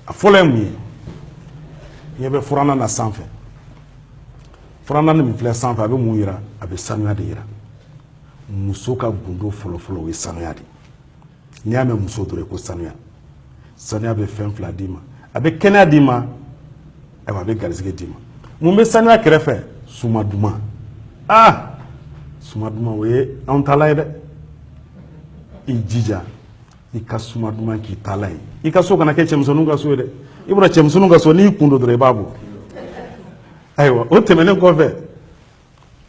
a fɔlɔ ye mun ye ɲɛ bɛ furannan na sanfɛ furannan min filɛ sanfɛ a bɛ mun yira a bɛ sanuya de yira muso ka gundo fɔlɔfɔlɔ o ye sanuya de n'i y'a mɛn muso dɔrɔn ko sanuya sanuya bɛ fɛn fila d'i ma a bɛ kɛnɛya d'i ma ayiwa a bɛ garisɛgɛ d'i ma mun bɛ sanuya kɛrɛfɛ suma duman aa suma duman o ye anw taala ye dɛ i jija i ka suma duman k'i taala ye i ka so kana kɛ cɛmisɛnninw ka so ye dɛ i bɔra cɛmisɛnninw ka so n'i kun don dɔrɔn i b'a bɔ ayiwa o tɛmɛnen kɔfɛ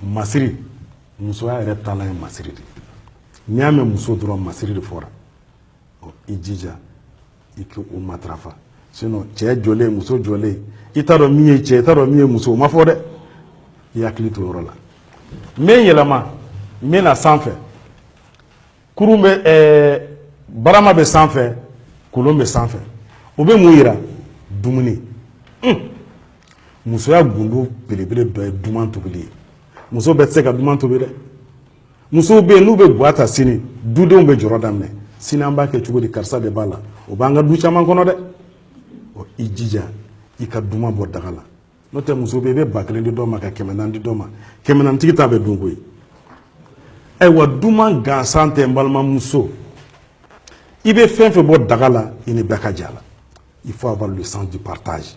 masiri musoya yɛrɛ taala ye masiri de n'i y'a mɛn muso dɔrɔn masiri de fɔra ɔ i jija i k'o matarafa sinon cɛ jɔlen muso jɔlen i t'a dɔn min ye cɛ i t'a dɔn min ye muso o ma fɔ dɛ i hakili to yɔrɔ la n bɛ n yɛlɛma n bɛ na sanfɛ kurun bɛ ɛɛ barama bɛ sanfɛ kolon bɛ sanfɛ o bɛ mun yira dumuni musoya gundo belebele dɔ ye duman tobili ye muso bɛɛ tɛ se ka duman tobi dɛ musow bɛ yen n'u bɛ gwa ta sini dudenw bɛ jɔrɔ daminɛ sini an b'a kɛ cogo di karisa de b'a la o b'an ka du caman kɔnɔ dɛ i jija i ka duman bɔ daga la n'o tɛ muso bɛ yen i bɛ ba kelen di dɔ ma ka kɛmɛ naani di dɔ ma kɛmɛ naani tigi ta bɛ dun koyi ayiwa duman gansan tɛ n balimamuso i bɛ fɛn fɛn bɔ daga la i ni bɛɛ ka jɛ a la il faut avoir le sens du partage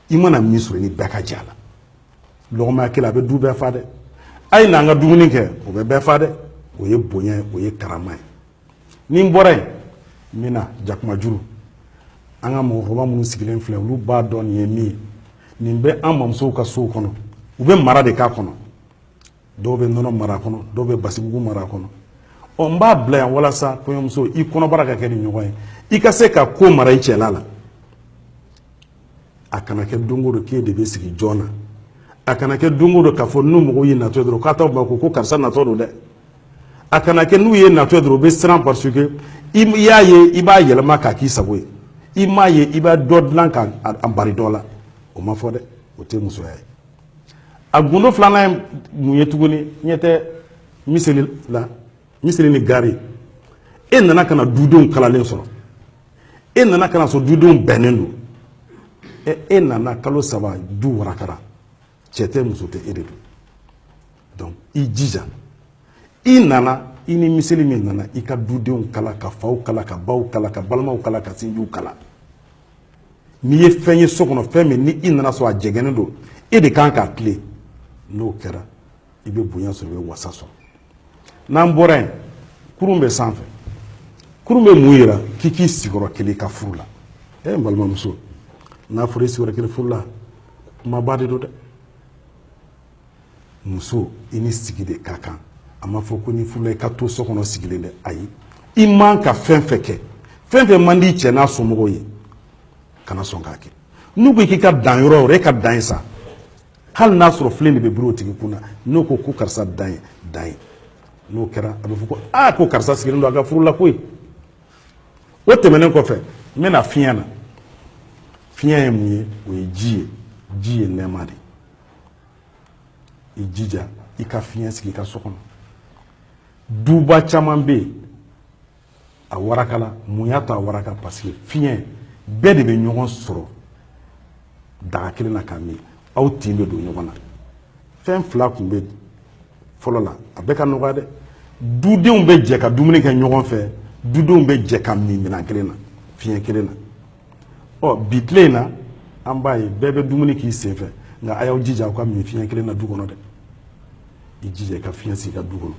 i mana min sɔrɔ i ni bɛɛ ka jɛ a la lɔgɔma ɲɛ kelen a bɛ du bɛɛ fa dɛ a ye n'an ka dumuni kɛ o bɛ bɛɛ fa dɛ o ye bonya ye o ye karama ye ni n bɔra yen n bɛ na jakumajuru an ka mɔgɔkɔrɔba minnu sigilen filɛ olu b'a dɔn nin ye min ye nin bɛ an mamusow ka sow kɔnɔ u bɛ mara de k'a kɔnɔ dɔw bɛ nɔnɔ mara a kɔnɔ dɔw bɛ basimugu mara a kɔnɔ ɔ n b'a bila yan walasa kɔɲɔmuso i kɔnɔbara ka kɛ nin ɲɔgɔn ye i ka se ka ko mara i cɛla la a kana kɛ don o don k'e de bɛ sigi jɔn na a kana kɛ don o don k'a fɔ ni mɔgɔw y'e natɔ ye dɔrɔn k'a t'aw makun ko karisa natɔ don dɛ a kana kɛ n'u ye natɔ dɔrɔn u bɛ siran parce que i y'a ye i b'a yɛlɛma k'a k'i sago ye i m'a ye i bɛ dɔ dilan k'a bari dɔ la o ma fɔ dɛ o tɛ musoya ye a gundo filanan ye mun ye tuguni ɲɛ tɛ miseli la miseli ni gari e nana ka na dudenw kalalen sɔrɔ e nana ka na sɔrɔ dudenw bɛnnen don e nana kalo saba du warakara cɛ tɛ muso tɛ e de don donc i jija i nana i ni miseli min nana i ka dudenw kala ka faw kala ka baw kala ka balimaw kala ka sinjiw kala n'i ye fɛn ye so kɔnɔ fɛn min ni i nana sɔrɔ a jɛgɛnnen don e de kan k'a tilen n'o kɛra i bɛ bonya sɔrɔ i bɛ wasa sɔrɔ n'an bɔra yen kurun bɛ sanfɛ kurun bɛ mun yira k'i k'i sigi yɔrɔ kelen i ka furu la e n balimamuso n'a fɔra i sigi yɔrɔ kelen furu la kumaba de don dɛ muso i ni sigi de ka kan a ma fɔ ko n'i furula i ka to so kɔnɔ sigilen dɛ ayi i man ka fɛn fɛn kɛ fɛn fɛn man di cɛ n'a somɔgɔw ye kana sɔn k'a kɛ n'u ko k'i ka dan yɔrɔ o yɔrɔ e ka dan yen sa hali n'a sɔrɔ filen de bɛ biri o tigi kun na n'u ko ko karisa dan yen dan yen n'o kɛra a bɛ fɔ ko aa ko karisa sigilen don a ka furu la koyi o tɛmɛnen kɔfɛ n bɛna fiɲɛ na fiɲɛ ye mun ye o ye ji ye ji ye nɛɛma de ye i jija i ka fiɲɛ sigi i ka so kɔnɔ duba caman bɛ yen a warakala mun y'a to a waraka parce que fiɲɛ bɛɛ de bɛ ɲɔgɔn sɔrɔ daga kelen na k'a min aw tin bɛ don ɲɔgɔn na fɛn fila tun bɛ fɔlɔ la a bɛ ka nɔgɔya dɛ dudenw bɛ jɛ ka dumuni kɛ ɲɔgɔn fɛ dudenw bɛ jɛ ka min minɛn kelen na fiɲɛ kelen na ɔ bi tile in na an b'a ye bɛɛ bɛ dumuni k'i sen fɛ nka a y'aw jija aw ka min fiɲɛ kelen na du kɔnɔ dɛ i jija i ka fiɲɛ sigi i ka du kɔnɔ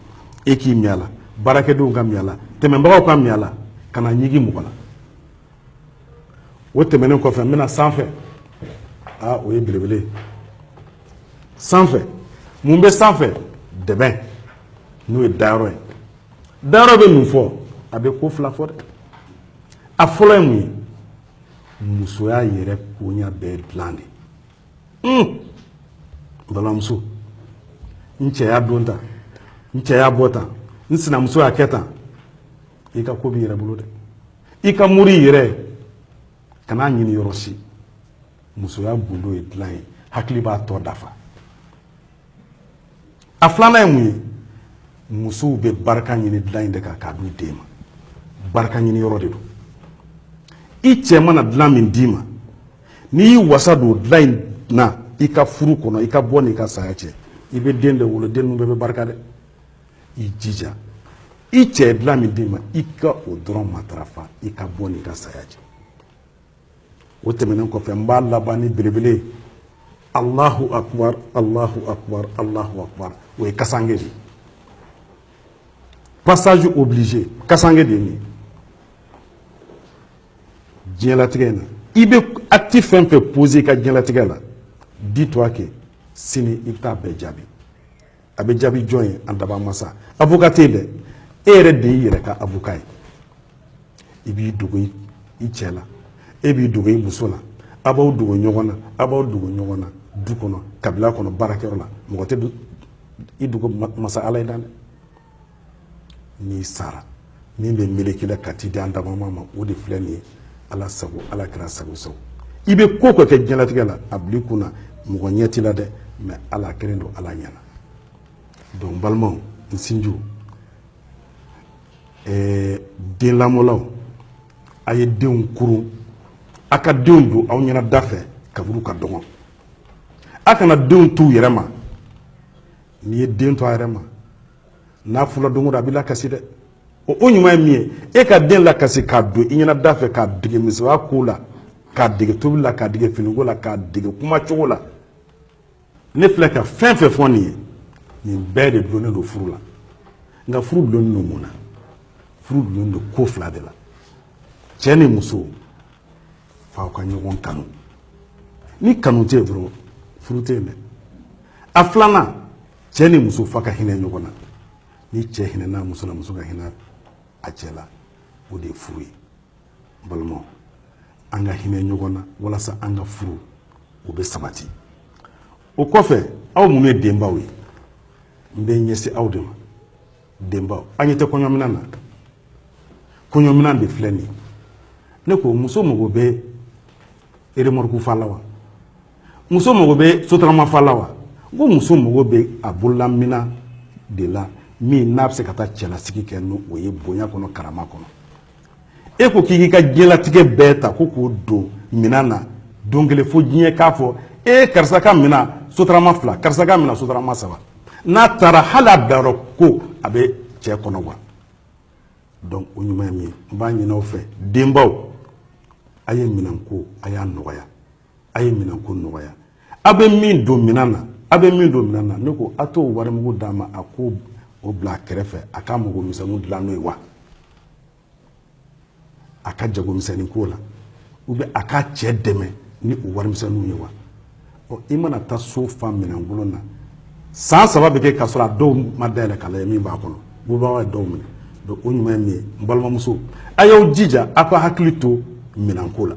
e k'i min a la baarakɛdenw ka min a la tɛmɛnbagaw ka min a la kana ɲigi mɔgɔ la o tɛmɛnen kɔfɛ n bɛna sanfɛ aa o ye belebele ye sanfɛ mun bɛ sanfɛ dɛbɛn n'o ye dayɔrɔ ye dayɔrɔ bɛ mun fɔ a bɛ ko fila fɔ dɛ a fɔlɔ ye mun ye musoya yɛrɛ koɲa bɛɛ dilan de n balimamuso n cɛ y'a don tan n cɛ y'a bɔ tan n sinamuso y'a kɛ tan i ka ko b'i yɛrɛ bolo dɛ i ka mori yɛrɛ kan'a ɲini yɔrɔ si musoya gundo ye dilan ye hakili b'a tɔ dafa a filanan ye mun ye musow bɛ barika ɲini dilan in de kan k'a d'u den ma barika ɲini yɔrɔ de don i cɛ mana dilan min d'i ma n'i y'i wasa don dilan in na i ka furu kɔnɔ i ka bɔ n'i ka saya cɛ i bɛ den de wolo den ninnu bɛɛ bɛ barika dɛ i jija i cɛ ye dilan min d'i ma i ka o dɔrɔn matarafa i ka bɔ n'i ka saya cɛ o tɛmɛnen kɔfɛ n b'a laban ni belebele ye alahu akubar alahu akubar alahu akubar o ye kasange de ye passage obligé kasange de ye nin ye diɲɛlatigɛ in na i bɛ acte fɛn fɛn poser i ka diɲɛlatigɛ la dis toi que sini i bɛ taa bɛɛ jaabi a bɛ jaabi jɔn ye an daba masa avocat tɛ yen dɛ e yɛrɛ de y'i yɛrɛ ka avocat ye i b'i dogo i cɛ la e b'i dogo i muso la a b'aw dogo ɲɔgɔn na a b'aw dogo ɲɔgɔn na du kɔnɔ kabila kɔnɔ baarakɛyɔrɔ la mɔgɔ tɛ i dogo masa ala ye dan dɛ n'i sara min bɛ meleke i la ka t'i di an dabama ma o de filɛ nin ye ala sago ala kɛra sago sago i bɛ ko o ko kɛ diɲɛlatigɛ la a bil'i kun na mɔgɔ ɲɛ t'i la dɛ mais ala kelen don ala ɲɛna donc n balimaw n sinjiw ɛɛ den lamɔlaw a ye denw kurun a ka denw don aw ɲɛna da fɛ kaburu ka dɔgɔn a kana denw t'u yɛrɛ ma n'i ye den to a yɛrɛ ma n'a furula don o don a b'i lakasi dɛ o ɲuman ye min ye e ka den lakasi k'a don i ɲɛna da fɛ k'a dege musoya ko la k'a dege tobi la k'a dege finiko la k'a dege kuma cogo la ne filɛ ka fɛn fɛn fɔ nin ye nin bɛɛ de dulonnen don furu la nka furu dulonnen don mun na furu dulonnen don ko fila de la cɛ ni muso f'aw ka ɲɔgɔn kanu ni kanu tɛ yen dɔrɔn furu tɛ yen dɛ a filanan cɛ ni muso f'a ka hinɛ ɲɔgɔn na ni cɛ hinɛna muso la muso ka hinɛ a cɛ la o de ye furu ye n balimaw an ka hinɛ ɲɔgɔn na walasa an ka furu o bɛ sabati o kɔfɛ aw minnu ye denbaw ye n bɛ ɲɛsin aw de ma denbaw an ɲɛ tɛ kɔɲɔminan na kɔɲɔminan de filɛ nin ye ne ko muso mago bɛ remorque fa la wa muso mago bɛ sotarama fa la wa n ko muso mago bɛ a bololaminan de la min n'a bɛ se ka taa cɛlasigi kɛ ni o ye bonya kɔnɔ karama kɔnɔ e ko k'i k'i ka diɲɛlatigɛ bɛɛ ta ko k'o don minan na don kelen fo diɲɛ k'a fɔ e karisa ka minan sotarama fila karisa ka minan sotarama saba n'a taara hali a bilayɔrɔ ko a bɛ cɛ kɔnɔ wa donc o ɲuman ye min ye n b'a ɲin'aw fɛ denbaw a ye minanko a y'a nɔgɔya a ye minanko nɔgɔya a bɛ min don minan na a bɛ min don minan na ne ko a t'o warimugu d'a ma a k'o bila a kɛrɛfɛ a ka mago misɛnninw dilan n'o ye wa a ka jago misɛnnin k'o la ou bien a ka cɛ dɛmɛ ni o warimisɛnninw ye wa ɔ i mana taa so fa minankolon na san saba bɛ kɛ k'a sɔrɔ a dɔw ma dayɛlɛ k'a lajɛ min b'a kɔnɔ bubagaw ye dɔw minɛ donc o ɲuman ye min ye n balimamuso a y'aw jija aw ka hakili to minanko la